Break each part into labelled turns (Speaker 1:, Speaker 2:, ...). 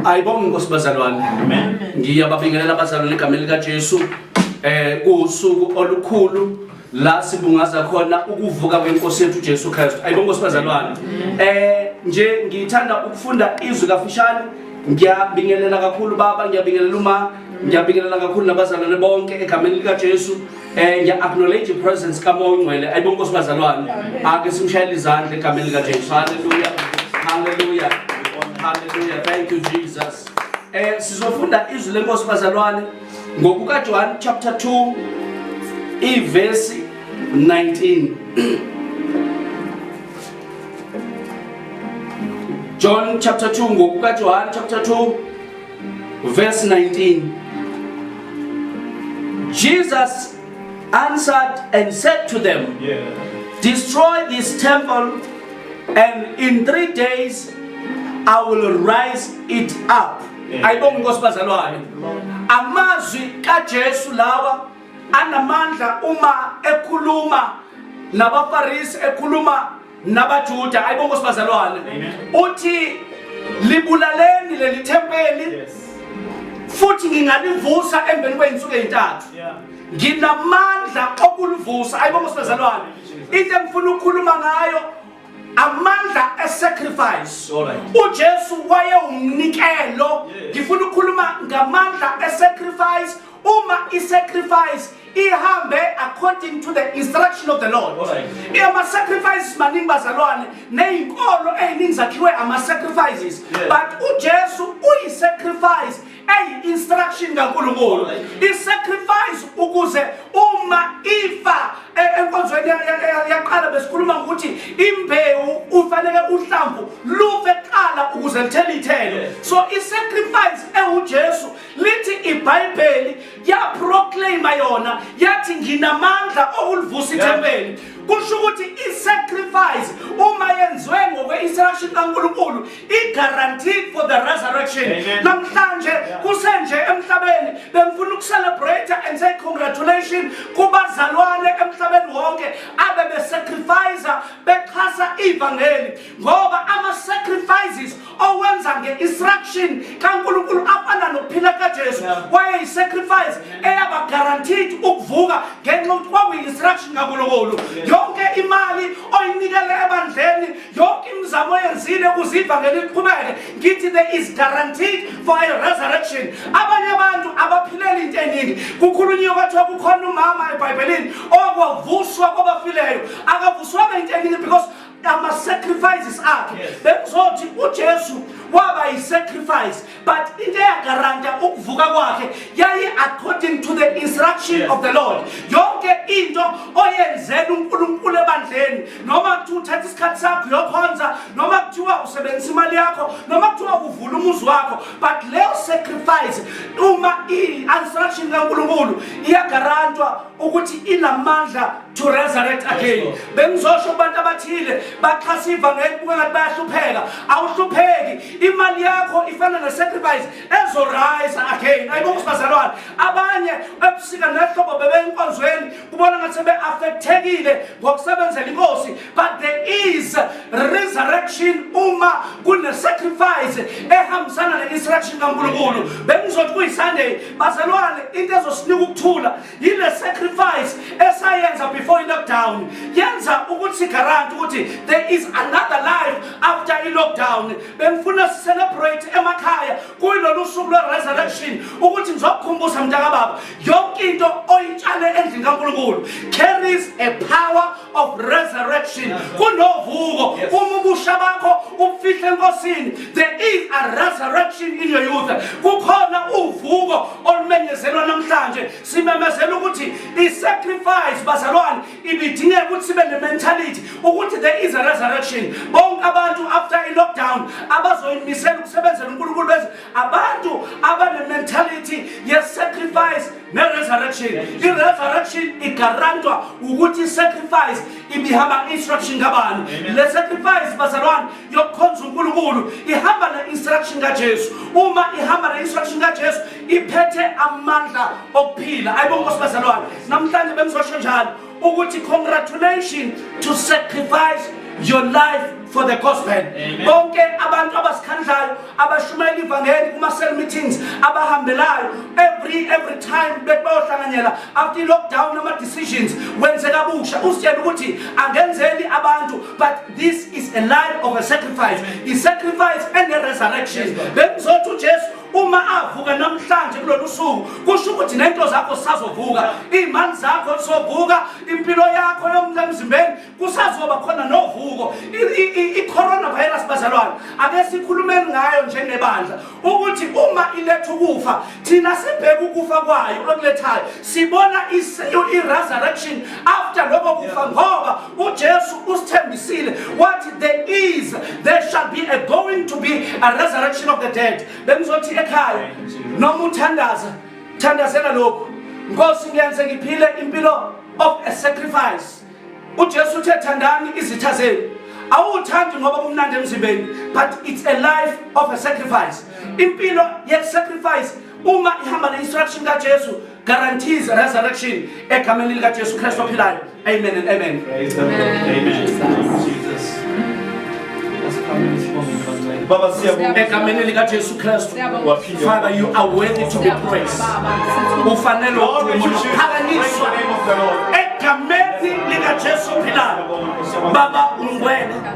Speaker 1: ayibonge inkosi bazalwane
Speaker 2: ngiyababingelela
Speaker 1: abazalwane egameni likajesu eh kuwusuku olukhulu la sibungaza khona ukuvuka kwenkosi yethu ujesu kristu ayibonge inkosi bazalwane eh nje ngithanda ukufunda izwi kafishane ngiyabingelela kakhulu baba ngiyabingelela uma ngiyabingelela kakhulu nabazalwane bonke egameni likajesu Eh ngiya acknowledge i presence ka Moya Ongcwele. Ayibo Nkosi bazalwane. Ake simshayele izandla egameni lika Jesu. Hallelujah. Hallelujah. Hallelujah. Thank you Jesus. Eh sizofunda izwi lenkosi bazalwane ngokuka John chapter 2 iverse 19. John chapter 2 ngokuka John chapter 2 Verse 19 Jesus answered and said to them, yeah. Destroy this temple, and in three days I will rise it up. ayibonga inkosi bazalwane amazwi kaJesu lawa anamandla uma ekhuluma nabafarisi ekhuluma nabaJuda ayibo Nkosi bazalwane uthi libulaleni leli thempeli futhi ngingalivusa emveni kwey'nsuku ey'ntathu nginamandla okulivusa ayibo Nkosi bazalwane into engifuna ukukhuluma ngayo amandla esacrifice uJesu wayewumnikelo ngifuna ukukhuluma ngamandla esacrifice uma i-sacrifice ihambe according to the instruction of the lord ama-sacrifices maningi bazalwane neyinkolo eyiningi zakhiwe ama-sacrifices but ujesu uyi-sacrifice eyi-instruction kankulunkulu i-sacrifice ukuze uma ifa e-, enkonzweni yaqala besikhuluma ngokuthi imbewu ufanele uhlamvu lufe kuqala ukuze lithele ithelo so i-sacrifice ewujesu lithi ibhayibheli yaproclaima yona yathi nginamandla okulivusa ithempeli kusho ukuthi i-sacrifice uma yenziwe ngokwe-instruction kankulunkulu i-guaranteed for the resurrection namhlanje kusenje emhlabeni bengifuna ukucelebrate and say congratulation kubazalwane emhlabeni wonke abebesacrifice bexhasa ivangeli ngoba ama-sacrifices owenza nge-instruction kankulunkulu afana nokuphila kajesu wayeyi-sacrifice eyaba guaranteed ukuvuka ngenxa yokuthi kwakuyi-instruction kankulunkulu yonke imali oyinikele ebandleni yonke imizamo oyenzile ukuze ivangeli liqhubeke ngithi there is guaranteed for a resurrection abanye abantu abaphilela into eningi kukhulunyiwe kwathiwa kukhona umama ebhayibhelini owakwavuswa kwabafileyo akavuswanga into eningi because ama-sacrifices akhe yes. bekuzothi ujesu waba yi-sacrifice but into eyagaranta ukuvuka kwakhe yayi according to the instruction yes. of the lord yonke into oyenzela unkulunkulu ebandleni noma kuthiwa uthatha isikhathi sakho yokhonza noma kuthiwa usebenzisa imali yakho noma kuthiwa uvula umuzi wakho but leyo sacrifice uma i-instruction kankulunkulu iyagarantwa ukuthi inamandla to resurrect again bengizosho kubantu abathile baxhasa ivangeli kuba ngathi bayahlupheka awuhlupheki imali yakho ifana ne-sacrifice ezorayisa again ayibo kusibazalwane abanye ebusika nehlobo bebeyinkonzweni kubona ngathi sebe-affekthekile ngokusebenzela inkosi but there is resurrection uma kune-sacrifice ehambisana ne-instruction kankulunkulu bengizothi kuyisunday bazalwane into ezosinika ukuthula yile sacrifice esayenza before i-lockdown yenza ukuthi sigaranti ukuthi there is another life after i-lockdown bengifuna sicelebrate emakhaya kuyilolu suku lwe-resurrection ukuthi ngizokukhumbuza mntakababa yonke into oyitshale endlini kankulunkulu carries a power of resurrection kunovuko uma ubusha bakho ubufihle enkosini there is a resurrection in your youth kukhona uvuko olumenyezelwa namhlanje simemezela ukuthi i-sacrifice bazalwane ibidingeka ukuthi sibe ne-mentality ukuthi there is a resurrection bonke abantu after i-lockdown abazoyimisela ukusebenzela unkulunkulu beze abantu abane-mentality ye-sacrifice ne-resurrection i-resurrection igarantwa ukuthi i-sacrifice ibihamba instruction kabani le sacrifice bazalwane yokukhonza unkulunkulu ihamba ne-instruction kajesu uma ihamba ne-instruction kajesu iphethe amandla okuphila ayibonkosi bazalwane namhlanje bengizosho njalo ukuthi congratulations to sacrifice your life for the gospel bonke abantu abasikhandlayo abashumayela ivangeli kuma-cell meetings abahambelayo every every time bethi bayohlanganyela after i-lockdown ama-decisions wenze kabusha usitshela ukuthi angenzeli abantu but this is a life of a sacrifice i-sacrifice and a resurrection bengizothi ujesu uma avuka namhlanje kulolu suku kusho ukuthi nento zakho zisazovuka iy'mali zakho zizovuka impilo yakho yomla emzimbeni kusazoba khona novuko i-coronavirus bazalwane ake sikhulumeni ngayo njengebandla ukuthi uma iletha ukufa thina sibheke ukufa kwayo okulethayo sibona i-resurrection after loko kufa ngoba uJesu usithembisile wathi there is there shall be a going to be a resurrection of the dead bengizothi ekhaya noma uthandaza thandazela lokhu nkosi ngiyenze ngiphile impilo of a sacrifice uJesu uthe thandani izitha zenu awuthandi ngoba kumnandi emzimbeni but it's a life of a sacrifice impilo ye sacrifice uma ihamba ne instruction kaJesu guarantees resurrection egameni likaJesu Kristu ophilayo amen and amen praise the lord amen
Speaker 2: jesus Baba siyabonga egameni lika Jesu
Speaker 1: Kristu Father you are worthy to be praised ufanele ukuphakanyiswa egameni lika Jesu phila Baba ungwena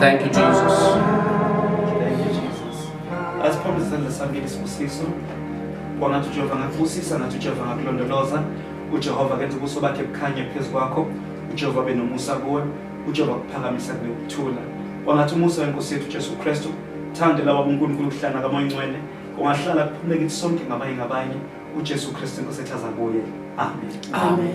Speaker 1: Thank
Speaker 2: you, Jesus. Thank you, Jesus. As promised in the Sunday Sibusiso, kwangathi uJehova ngakubusisa ngathi uJehova ngakulondoloza, uJehova kenza ubuso bakhe bukhanye phezu kwakho, uJehova benomusa kuwe, uJehova kuphakamisa kube ukuthula. Kwangathi umusa wenkosi yethu Jesu Kristu, thande lawa uNkulunkulu uhlana kamoya ingcwele, kungahlala kuphume kithi sonke ngabanye ngabanye, uJesu Kristu
Speaker 1: inkosi
Speaker 2: ethaza kuye. Amen. Amen. Amen.